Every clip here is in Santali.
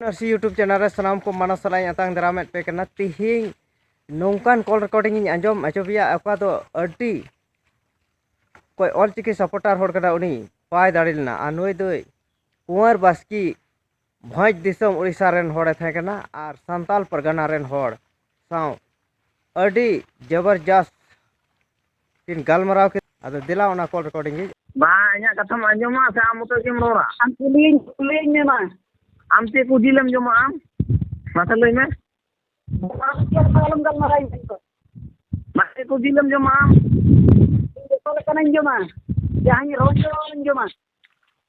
ᱱᱟᱨᱥᱤ ᱭᱩᱴᱩᱵᱽ ᱪᱮᱱᱮᱞ ᱨᱮ ᱥᱟᱱᱟᱢ ᱠᱚ ᱢᱟᱱᱟ ᱥᱟᱞᱟᱜ ᱤᱧ ᱟᱛᱟᱝ ᱫᱟᱨᱟᱢᱮᱫ ᱯᱮ ᱠᱟᱱᱟ ᱛᱤᱦᱤᱧ ᱱᱚᱝᱠᱟᱱ ᱠᱚᱞ ᱨᱮᱠᱚᱨᱰᱤᱝ ᱤᱧ ᱟᱸᱡᱚᱢ ᱟᱪᱚ ᱯᱮᱭᱟ ᱚᱠᱟ ᱫᱚ ᱟᱹᱰᱤ ᱚᱠᱚᱭ ᱚᱞ ᱪᱤᱠᱤ ᱥᱟᱯᱚᱴᱟᱨ ᱦᱚᱲ ᱠᱟᱱᱟ ᱩᱱᱤ ᱵᱟᱭ ᱫᱟᱲᱮ ᱞᱮᱱᱟ ᱟᱨ ᱱᱩᱭ ᱫᱚᱭ ᱠᱩᱸᱣᱟᱨ ᱵᱟᱥᱠᱤ ᱵᱷᱚᱸᱡᱽ ᱫᱤᱥᱚᱢ ᱩᱲᱤᱥᱥᱟ ᱨᱮᱱ ᱦᱚᱲᱮ ᱛᱟᱦᱮᱸ ᱠᱟᱱᱟ ᱟᱨ ᱥᱟᱱᱛᱟᱞ ᱯᱟᱨᱜᱟᱱᱟ ᱨᱮᱱ ᱦᱚᱲ ᱥᱟᱶ ᱟᱹᱰᱤ ᱡᱚᱵᱚᱨᱡᱟᱥ ᱠᱤᱱ ᱜᱟᱞᱢᱟᱨᱟᱣ ᱠᱮᱫ ᱟᱫᱚ ᱫᱮᱞᱟ ᱚᱱᱟ ᱠᱚᱞ ᱨᱮᱠᱚᱨᱰᱤᱝ ᱜᱮ ᱵᱟᱝ ᱤᱧᱟᱹᱜ ᱠᱟᱛᱷᱟᱢ ᱟᱸᱡᱚᱢᱟ ᱥᱮ ᱟᱢ ᱢᱚᱛᱚ ᱜᱮᱢ ᱨᱚᱲᱟ ᱟᱢ ᱠᱩᱞᱤᱭᱤᱧ ᱠᱩᱞᱤᱭᱤᱧ ᱢᱮ ᱢᱟ ᱟᱢ ᱪᱮᱫ ᱠᱚ ᱡᱤᱞᱮᱢ ᱡᱚᱢᱟ ᱟᱢ ᱢᱟᱥᱮ ᱞᱟᱹᱭ ᱢᱮ ᱟᱞᱚᱢ ᱜᱟᱞᱢᱟᱨᱟᱣ ᱤᱧ ᱥᱟᱶ ᱢᱟ ᱪᱮᱫ ᱠᱚ ᱡᱤᱞᱮᱢ ᱡᱚᱢᱟ ᱟᱢ ᱡᱚᱛᱚ ᱞᱮᱠᱟᱱᱟᱜ ᱤᱧ ᱡᱚᱢᱟ ᱡᱟᱦᱟᱸᱧ ᱨᱚᱲ ᱠᱮᱫᱟ ᱚᱱᱟᱧ ᱡᱚᱢᱟ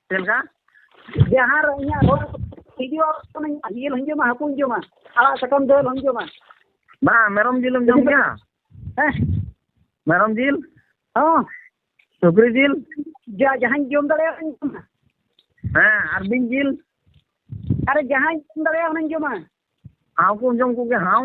ᱪᱮᱫ ᱞᱮᱠᱟ ᱡᱟᱦᱟᱸ ᱨᱮ ᱤᱧᱟᱹᱜ ᱨᱚᱲ ᱵᱷᱤᱰᱤᱭᱳ ᱠᱟᱹᱱᱟᱹᱧ ᱡᱤᱞ ᱦᱚᱧ ᱡᱚᱢᱟ ᱦᱟᱹᱠᱩᱧ ᱡᱚᱢᱟ ᱟᱲᱟᱜ ᱥᱟᱠᱟᱢ ᱫᱟᱹᱞ ᱦᱚᱧ ᱡᱚᱢᱟ ᱵᱟᱝ ᱢᱮᱨᱚᱢ ᱡᱤᱞᱮᱢ ᱡᱚᱢ ᱜᱮᱭᱟ ᱦᱮᱸ ᱢᱮᱨᱚᱢ ᱡᱤᱞ ᱦᱚᱸ ᱥᱩᱠᱨᱤ ᱡᱤᱞ ᱡᱟ ᱡᱟᱦᱟᱸᱧ ᱡᱚᱢ ᱫᱟᱲᱮᱭᱟᱜ ᱚᱱᱟᱧ ᱡᱚᱢᱟ ᱦᱮᱸ ᱟᱨ ᱵᱤᱧ ᱡᱤᱞ ᱟᱨᱮ ᱡᱟᱦᱟᱸᱧ ᱡᱚᱢ ᱫᱟᱲᱮᱭᱟᱜ ᱚᱱᱟᱧ ᱡᱚᱢᱟ ᱦᱟᱣ ᱠᱚᱢ ᱡᱚᱢ ᱠᱚᱜᱮᱭᱟ ᱦᱟᱣ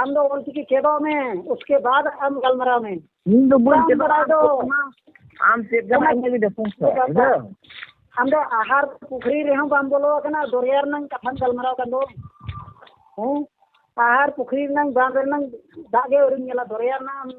ᱟᱢ ᱫᱚ ᱚᱞᱪᱤᱠᱤ ᱪᱮᱫᱚᱜ ᱢᱮ ᱩᱥᱠᱮ ᱵᱟᱫ ᱟᱢ ᱜᱟᱞᱢᱟᱨᱟᱣ ᱢᱮ ᱤᱧ ᱫᱚ ᱵᱟᱹᱧ ᱪᱮᱫᱚᱜᱼᱟ ᱟᱢ ᱪᱮᱫ ᱠᱟᱱᱟ ᱤᱧ ᱞᱟᱹᱜᱤᱫ ᱫᱚ ᱟᱢ ᱫᱚ ᱟᱦᱟᱨ ᱯᱩᱠᱷᱨᱤ ᱨᱮᱦᱚᱸ ᱵᱟᱢ ᱵᱚᱞᱚ ᱟᱠᱟᱱᱟ ᱫᱚᱨᱭᱟ ᱨᱮᱱᱟᱝ ᱠᱟᱛᱷᱟᱢ ᱜᱟᱞᱢᱟᱨᱟᱣ ᱠᱟᱱ ᱫᱚ ᱦᱮᱸ ᱟᱦᱟᱨ ᱯᱩᱠᱷᱨᱤ ᱨᱮᱱᱟᱝ ᱵᱟᱸᱫᱷ ᱨᱮᱱᱟᱝ ᱫᱟᱜ ᱜᱮ ᱟᱹᱣᱨᱤᱢ ᱧᱮᱞᱟ ᱫᱚᱨᱭᱟ ᱨᱮᱱᱟᱜ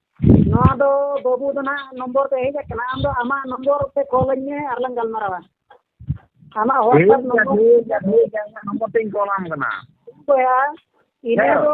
ᱱᱚᱣᱟ ᱫᱚ ᱵᱟᱹᱵᱩ ᱫᱚ ᱦᱟᱸᱜ ᱱᱚᱢᱵᱚᱨ ᱫᱚ ᱦᱮᱡ ᱠᱟᱱᱟ ᱟᱢᱫᱚ ᱟᱢᱟᱜ ᱱᱚᱢᱵᱚᱨ ᱛᱮ ᱠᱚᱞ ᱟᱹᱧ ᱢᱮ ᱟᱨ ᱞᱟᱝ ᱜᱟᱞᱢᱟᱨᱟᱣᱟ ᱟᱢᱟᱜ ᱦᱳᱣᱟᱴᱥᱮᱯ ᱱᱚᱢᱵᱚᱨ ᱴᱷᱤᱠ ᱜᱮᱭᱟ ᱴᱷᱤᱠ ᱜᱮᱭᱟ ᱤᱧᱟᱹᱜ ᱱᱚᱢᱵᱚᱨ ᱛᱤᱧ ᱠᱚᱞᱟᱢ ᱠᱟᱱᱟ ᱦᱳᱭ ᱤᱱᱟᱹ ᱫᱚ